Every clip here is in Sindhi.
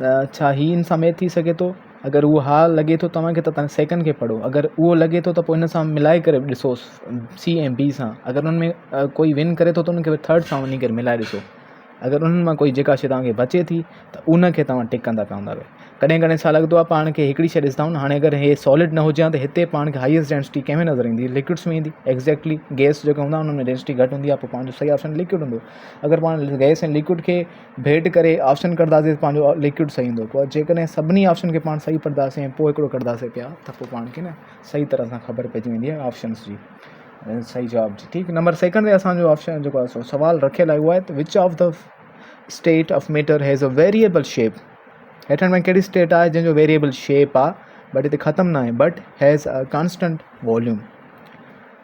ڇا هي ان سميت ٿي سگهي ٿو؟ اگر اهو ها لڳي ٿو توهان کي ته تنهن سيڪنڊ کي پڙهو اگر اهو لڳي ٿو ته پوء ان سان ملائي ڪري به ڏسوس سي ۽ بي سان اگر ان ۾ ڪوئي ون ڪري ٿو ته ان کي به ٿرڊ سان وڃي ڪري ملائي ڏسو اگر انهن مان ڪوئي جيڪا شي تهانکي بچي ٿي ته ان کي تهان ٽڪ ڪندا ڪندا به ڪڏهن ڪڏهن ڇا لڳندو آهي پاڻ کي هڪڙي شي ڏسندا آهيون هاڻي اگر هي سالڊ نه هجي ته هتي پاڻ کي هائيسٽ ڊينسٽي ڪنهن ۾ نظر ايندي لڪوڊس ۾ ايندي ايگزيڪٽلي گيس جيڪا هوندا انهن ۾ ڊينسٽي گهٽ هوندي آهي پوء پاڻ جو صحيح آپشن لڪوڊ هوندو اگر پاڻ گيس ۽ لڪوڊ کي ڀيٽ ڪري آپشن ڪڍنداسين ته پنهنجو ليڪوڊ صحيح ايندو پر جيڪڏهن سڀني آپشن کي پاڻ صحيح پڙهنداسين ۽ پوء هڪڙو ڪڍنداسين پيا ته پوء پاڻ کي نه صحيح طرح سان خبر پئجي ويندي آهي آپشنس جي صحيح جواب جي ٺيڪ نمبر سيڪنڊ تي اسانجو آپشن جيڪو آهي سو سوال رکيل آهي اهو آهي ته which of the state of matter has a variable shape هيٺن ۾ ڪهڙي اسٽيٽ آهي جنهن جو ويريبل شيپ آهي بٽ هتي ختم نه آهي but has a constant volume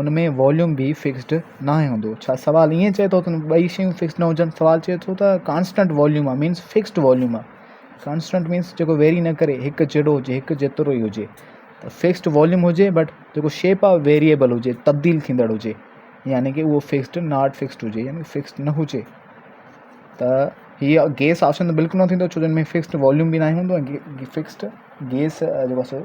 ان ۾ واليوم به فڪسڊ ناهي هوندو ڇا سوال ائين چئي ٿو ته ٻئي شيون فڪسڊ نه هجن سوال چئي ٿو ته ڪانسٽنٽ واليوم آهي مينس فڪسڊ واليوم آهي ڪانسٽنٽ مينس جيڪو ويري نه ڪري هڪ جهڙو هجي هڪ جيترو ئي هجي ته فڪسڊ واليوم هجي بٽ جيڪو شيپ آف ويريبل هجي تبديل ٿيندڙ هجي يعني کہ اهو فڪسڊ ناٽ فڪسڊ هجي يعني فڪسڊ نه هجي ته هيء گيس آپشن بلڪل نه ٿيندو ڇو جو هن ۾ فڪسڊ واليوم به ناهي هوندو ۽ فڪسڊ گيس جيڪو سو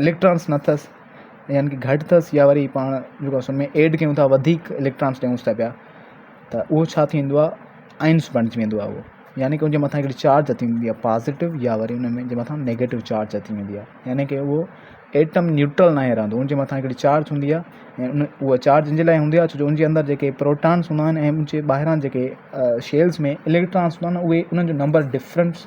اليڪٽرانس نه اٿس يعني ڪي گهٽ اٿس يا وري پاڻ جيڪو اسم ۾ ايڊ ڪيون ٿا وڌيڪ اليڪٽرانس ڏيونس ٿا پيا ته اهو ڇا ٿيندو آهي آئنس بڻجي ويندو آهي اهو يعني ڪي ان جي مٿان هڪڙي چارج اچي ويندي آهي پازيٽو يا وري ان ۾ جي مٿان نيگيٽو چارج اچي ويندي آهي يعني ڪي اهو ايٽم نيوٽرل ناهي رهندو ان جي مٿان هڪڙي چارج هوندي آهي ۽ اهو چارج ان جي لاء هوندي آهي ڇو جو ان جي اندر جيڪي پروٽانس هوندا آهن ۽ ان جي ٻاهران جيڪي شيلز ۾ اليڪٽرانس هوندا آهن اهي ان جو نمبر ڊفرنس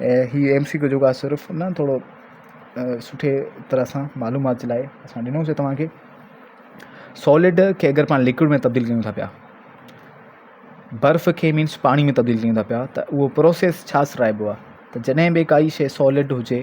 هي ايم سي ڪيو جيڪو صرف نه ٿورو سٺي طرح سان معلومات جي لاء اسان ڏنو سي توهان کي سولڊ کي اگر پاڻ لڪوڊ ۾ تبديل ڪيون ٿا پيا برف کي مينس پاڻي ۾ تبديل ڪيون ٿا پيا ته اهو پروسيس ڇا سرائبو آ ته جڏهن به ڪائي شي سولڊ هجي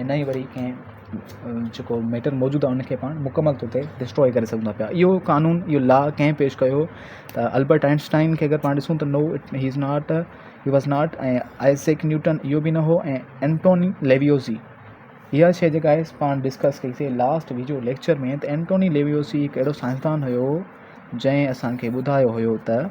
۽ نه ئي وري ڪنهن جيڪو ميٽر موجود آهي ان کي پاڻ مڪمل طور تي ڊسٽروء ڪري سگهون ٿا پيا اهو قانون اهو لا ڪنهن پيش ڪيو هو ته البرٽ آئنسٽائن کي اگر پاڻ ڏسون ته no he is not he was not ۽ Isaac Newton اهو به نه هو ۽ اينٽوني ليويوزي اها شي جيڪا آهي پاڻ ڊسڪس ڪئي سي لاسٽ ويجو ليڪچر ۾ ته اينٽوني ليويوزي هڪ اهڙو سائنسدان هيو جنهن اسانکي ٻڌايو هيو ته